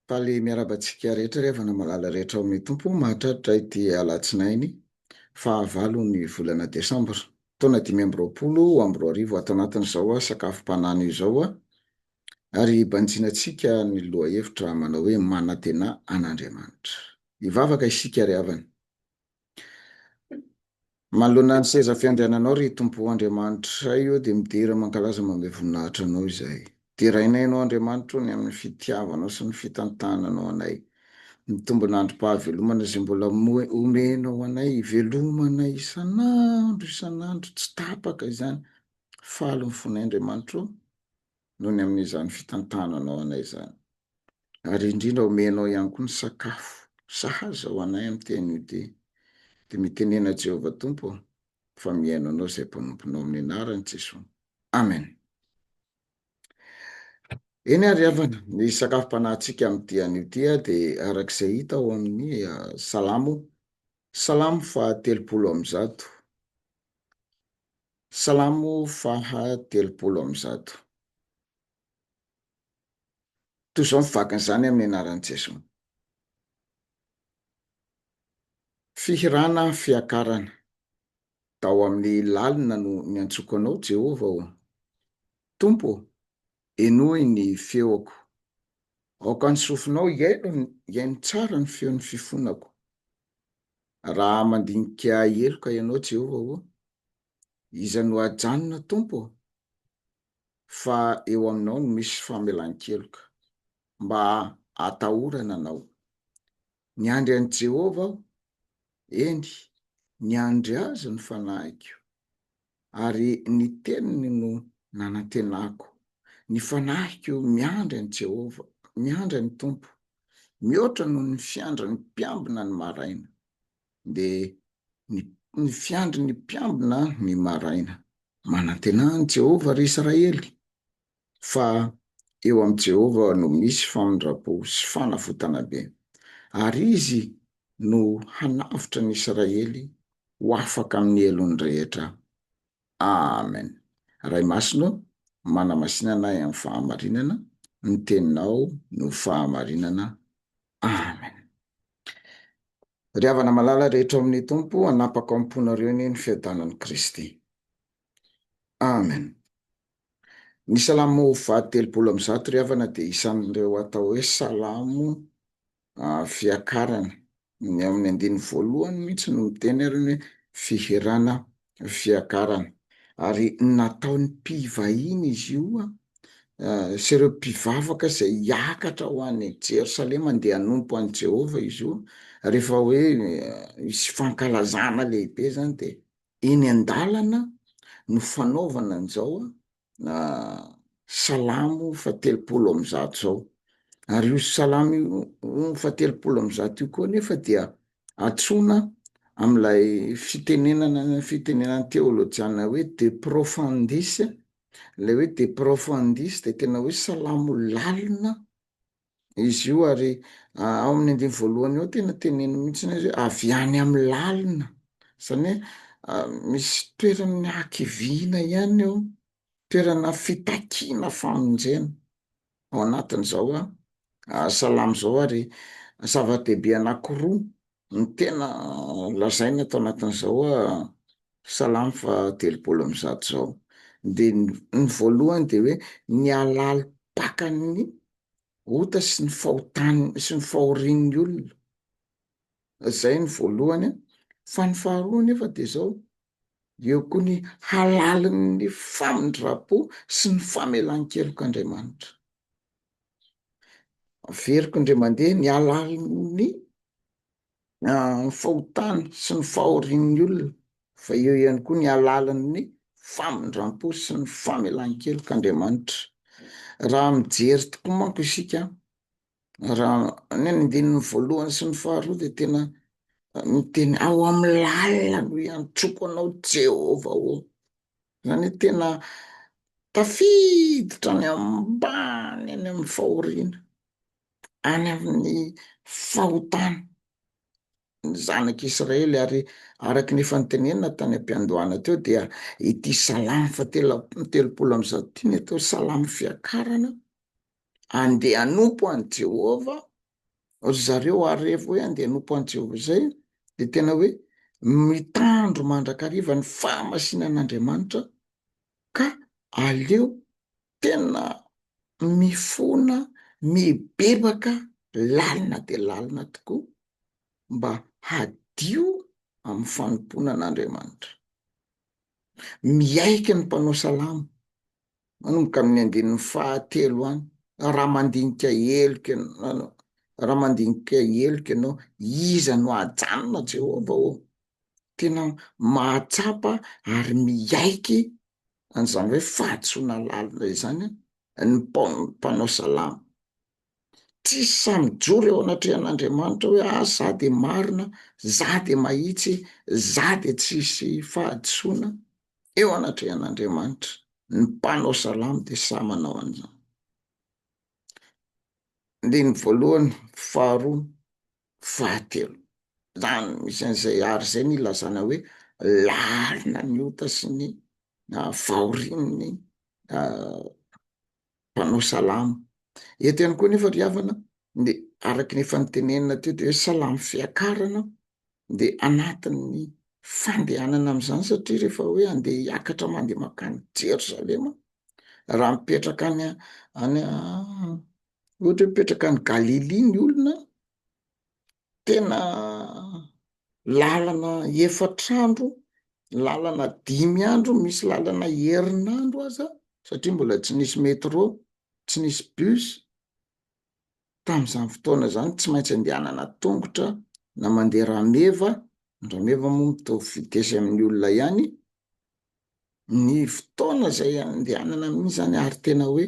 Faly miarahaba antsika rehetra ry havana malala rehetra ao amin'ny Tompo. Mahatratra ity alatsinainy fahavalon'ny volana desambra taona dimy amby roapolo amby roa arivo ato anatin'izao sakafom-panana izao, ary banjina antsika ny lohahevitra manao hoe manantena an'Andriamanitra. Hivavaka isika ry havana. Manoloana ny seza fiandriananao, ry Tompo Andriamanitray ô, dia midera mankalaza manome voninahitra Anao izahay. Derainay Anao Andriamanitra ô, ny amin'ny fitiavanao sy ny fitantananao anay. Mitombina androm-pahavelomana izay mbola omenao ho anay, ivelomanay isan'andro isan'andro, tsy tapaka izany. Faly ny fonay Andriamanitra ô. noho ny amin'izany fitantananao anay izany. Ary indrindra omenao ihany koa ny sakafo sahaza ho anay amin'ny tenue day. Dia mitenena Jehovah Tompo aho fa mihaino anao izay mpanomponao amin'ny anaran'i Jesoa. Amen. Eny ary havana, ny sakafom-panahintsika amin'ny dia anio ty dia araka izay hita ao amin'ny Salamo, Salamo faha telopolo amby zato. Salamo faha telopolo amby zato. Toy izao ny vakin'izany amin'ny anaran'i Jeso. Fihirana fiakarana. Tao amin'ny lalina no niantsoko anao, Jehovah ô. Tompo ô, henoy ny feoko. Aoka ny sofinao hihaino tsara ny feon'ny fifonako. Raha mandinika heloka ianao, Jehovah ô, iza no hajanona, Tompo ô? Fa eo aminao no misy famelan-keloka, mba hatahorana anao. Niandry an'i Jehovah aho, eny, niandry azy ny fanahiko. ary ny teniny no nanantenako. Ny fanahiko miandry an'i Jehovah, miandry an'ny Tompo, mihoatra noho ny fiandrin'ny mpiambina ny maraina, dia ny, ny fiandrin'ny mpiambina ny maraina. Manantenain'i Jehovah ry Israely, fa eo amin'i Jehovah no misy famindram-po sy fanavotana be, ary izy no hanavotra ny Israely ho afaka amin'ny helony rehetra. Amen! Ray Masina ô, manamasina anay amin'ny fahamarinana, ny Teninao no fahamarinana. Amen! Ry havana malala rehetra ao amin'ny Tompo, hanapaka ao am-ponareo anie ny fiadanan'i Kristy. Amen! Ny salamo faha telopolo amby zato ry havana dia isan'ireo atao hoe salamo fiakarana. Ny ao amin'ny andininy voalohany mihitsy no miteny ary ny hoe fihirana fiakarana. Ary nataon'ny mpivahiny izy io sy ireo mpivavaka izay hiakatra ho any Jerosalema handeha hanompo an'i Jehovah izy io. Rehefa hoe hisy fankalazana lehibe izany dia Eny an-dalana no fanaovana an'izao Salamo fahatelopolo amby zato izao. Ary io Salamo fahatelopolo amby zato io koa anefa dia antsoina amin'ilay fitenenana fitenenan'ny teolojiana hoe de profundis, ilay hoe de profundis dia tena hoe salamo lalina Izy io ary ao amin'ny andiny voalohany eo tena teneno mihitsiny izy avy any amin'ny lalina, izany hoe misy toerana hakiviana ihany eo, toerana fitakiana famonjena ao anatin'izao salamo izao ary zava-dehibe anankiroa no tena lazaina ato anatin'izao salamo fahatelopolo amby zato izao, dia ny voalohany dia hoe ny halalim-pakan'ny ota sy ny fahotany sy ny fahorian'ny olona. Izay ny voalohany an, fa ny faharoa nefa dia izao, eo koa ny halalin'ny famindram-po sy ny famelan-kelok'Andriamanitra. Averiko indray mandeha ny halalin'ny ny fahotany sy ny fahorian'ny olona, fa eo ihany koa ny halalin'ny famindram-po sy ny famelan-kelok'Andriamanitra. Raha mijery tokoa manko isika, raha ny andininy voalohany sy ny faharoa dia tena miteny, ao amin'ny lalina no iantroko anao Jehovah ô. Izany hoe tena tafiditra any ambany any amin'ny fahoriana. any amin'ny fahotana ny zanak'i Israely, ary araka ny efa notenenina tany am-piandohana teo dia ity salamo fahatelo amby telopolo amby zato ity no atao salamo fiakarana, Andeha hanompo an'i Jehovah ry zareo, ary rehefa hoe andeha hanompo an'i Jehovah izay dia tena hoe mitandro mandrakariva ny fahamasinan'Andriamanitra, ka aleo tena mifona mibebaka lalina dia lalina tokoa mba hadio amin'ny fanompoana an'Andriamanitra. Miaiky ny mpanao salamo manomboka amin'ny andininy fahatelo any, raha mandinika heloka ianao, raha mandinika heloka ianao, iza no ajanona Jehovah ô? Tena mahatsapa ary miaiky an'izany hoe fahadisoana lalina izany ny mpanao salamo. Tsy sahy mijoro eo anatrehan'Andriamanitra hoe ah za de marina, za de mahitsy, za de tsy hisy fahadisoana eo anatrehan'Andriamanitra. Ny mpanao salamo de sahy manao an'izany. Andininy voalohany, faharoa, Fahatelo, lany isan'izay art izay ny ilazana hoe lalina ny ota sy ny fahorian'ny mpanao salamo. Eto ihany koa nefa ry havana, ny araka ny efa notenenina teo dia hoe salamo fiakarana, dia anatin'ny fandehanana amin'izany satria rehefa hoe andeha hiakatra mandeha mankany Jerosalema, raha mipetraka any any Ohatra hoe mipetraka any Galilia ny olona, tena lalana efatra andro, lalana dimy andro, misy lalana herinandro aza satria mbola tsy nisy metro, tsy nisy bus, tamin'izany fotoana izany tsy maintsy andehanana an-tongotra na mandeha rameva, ny rameva moa mitovy vitesse amin'ny olona ihany, ny fotoana izay andehanana mihitsy izany ary tena hoe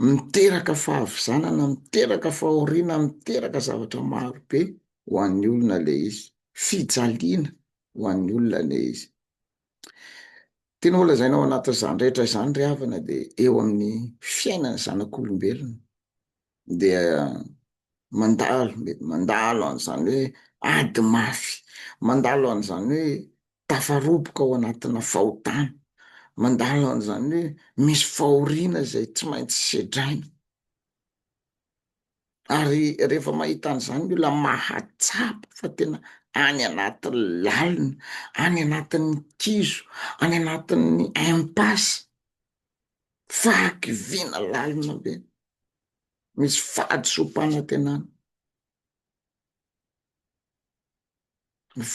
miteraka fahavizanana, miteraka fahoriana, miteraka zavatra maro be ho an'ny olona ilay izy, fijaliana ho an'ny olona ilay izy. Tianao holazaina ao anatin'izany rehetra izany ry havana dia eo amin'ny fiainan'ny zanak'olombelona. dia mandalo mety mandalo an'izany hoe ady mafy, mandalo an'izany hoe tafaroboka ao anatina fahotana, mandalo an'izany hoe misy fahoriana izay tsy maintsy sedraina, ary rehefa mahita an'izany ny olona mahatsapa fa tena any anaty lalina, any anatin'ny kizo, any anatin'ny impasse fahakiviana lalina be, misy fahadisoam-panantenana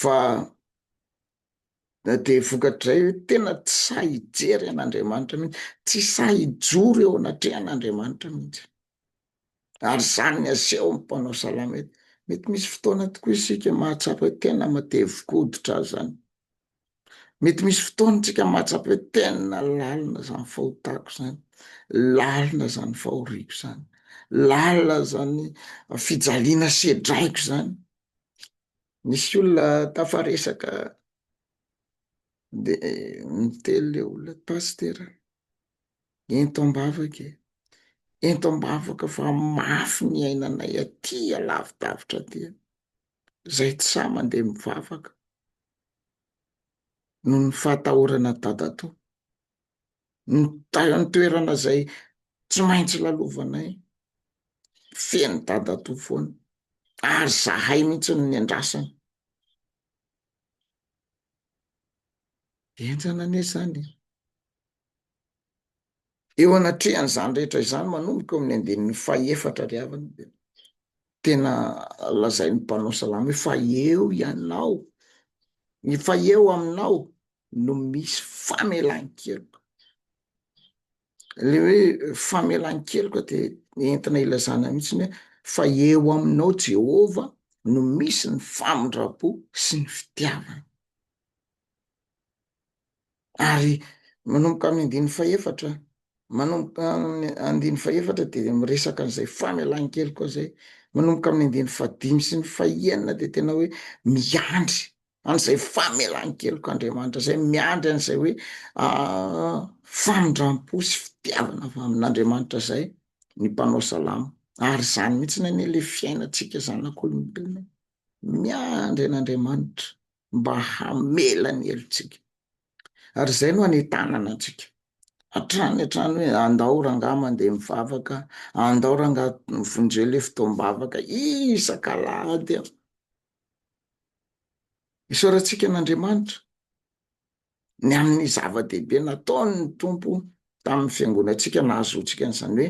fa na dia vokatrizay hoe tena tsy sahy hijery an'Andriamanitra mihitsy, tsy sahy hijoro eo anatrehan'Andriamanitra mihitsy. ary izany ny asehon'ny mpanao salamo eto. Mety misy fotoana tokoa isika mahatsapa hoe tena matevi-koditra aza izany. Mety misy fotoana isika mahatsapa hoe tena lalina izany fahotako izany, lalina izany fahoriako izany, lalina izany fijaliana sedraiko izany. Nisy olona tafaresaka dia niteny ilay olona, Pasitera, Ento am-bavaka e! Ento am-bavaka fa mafy ny ainanay aty alavidavitra aty e! Izay tsy sahy mandeha mivavaka noho ny fahatahorana dadatoa. Ny tany an-toerana izay tsy maintsy lalovanay, feno dadatoa foana ary izahay mihitsy no niandrasana. Henjana anie izany e! Eo anatrehan'izany rehetra izany, manomboka eo amin'ny andininy fahefatra ary aviny dia tena lazain'ny mpanao salamo hoe fa eo ianao, ny fa eo aminao no misy famelan-keloka. Ilay hoe famelan-keloka dia entina ilazana mihitsiny hoe fa eo aminao Jehovah no misy ny famindram-po sy ny fitiavana. Ary manomboka amin'ny andininy fahefatra, manomboka amin'ny andininy fahefatra dia miresaka an'izay famelan-keloka koa izay, manomboka amin'ny andininy fahadimy sy ny fahenina dia tena hoe miandry an'izay famelan-keloka Andriamanitra izay, miandry an'izay hoe famindram-po sy fitiavana avy amin'Andriamanitra izay ny mpanao salamo. Ary izany mihitsy anie ilay fiainantsika zanak'olombelona, miandry an'Andriamanitra. mba hamela ny helotsika. Ary izay no anentanana antsika hatrany hatrany hoe andao rangaha mandeha mivavaka, andao rangaha vonjeo ilay fotoam-bavaka isak'alahady an! Isaorantsika an'Andriamanitra ny amin'ny zava-dehibe nataon'ny Tompo tamin'ny fiangonantsika nahazoantsika an'izany hoe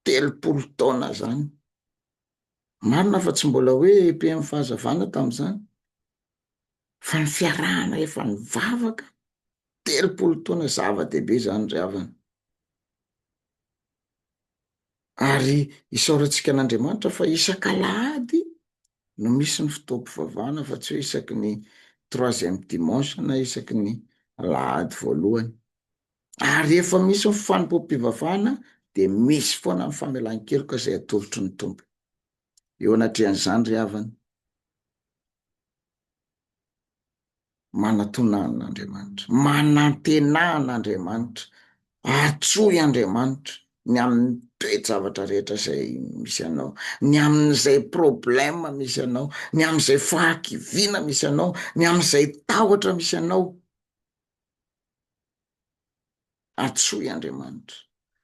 telopolo taona izany. Marina fa tsy mbola hoe EPM Fahazavana tamin'izany, fa ny fiarahana efa nivavaka telopolo taona, zava-dehibe izany ry havana. Ary isaorantsika an'Andriamanitra fa isak'alahady no misy ny fotoam-pivavahana fa tsy hoe isaky ny troisième dimanche na isaky ny alahady voalohany. Ary rehefa misy ny fanompoam-pivavahana dia misy foana ny famelan-keloka izay atolotry ny Tompo. Eo anatrehan'izany ry havana, manatona an'Andriamanitra, manantenà an'Andriamanitra, antsoy Andriamanitra ny amin'ny toe-javatra rehetra izay misy anao, ny amin'izay problème misy anao, ny amin'izay fahakiviana misy anao, ny amin'izay tahotra misy anao. Antsoy Andriamanitra.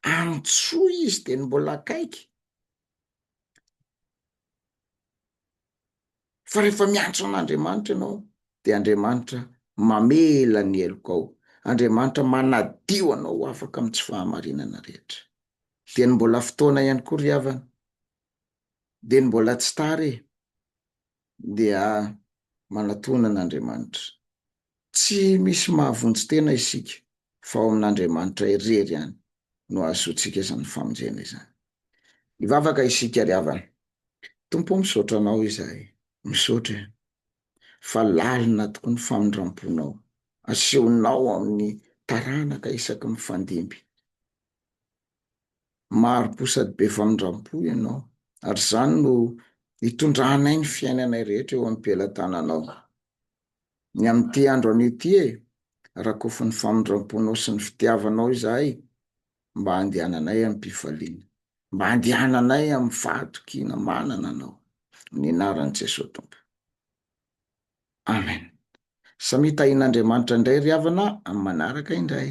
Antsoy Izy dia ny mbola akaiky. Fa rehefa miantso an'Andriamanitra ianao dia Andriamanitra mamela ny helokao, Andriamanitra manadio anao ho afaka amin'ny tsy fahamarinana rehetra. Dia ny mbola fotoana ihany koa ry havana. Dia ny mbola tsy tara e. dia manatona an'Andriamanitra. Tsy misy mahavonjy tena isika fa ao amin'Andriamanitra irery ihany no ahazoantsika izany famonjena izany. Hivavaka isika ry havana, Tompo ô misaotra Anao izahay, misaotra e, fa lalina tokoa ny famindram-ponao, asehonao amin'ny taranaka isaky mifandimby. mari-po sady be famindram-po ianao, ary izany no itondranay ny fiainanay rehetra eo am-pelatananao. Ny amin'ity andro anio ity e, rakofy ny famindram-ponao sy ny fitiavanao izahay mba handehananay amim-pifaliana, mba handehananay amin'ny fahatokiana manana anao. Amin'ny anaran'i Jesoa Tompo. Amen. Samia tahian'Andriamanitra indray ry havana amin'ny manaraka indray.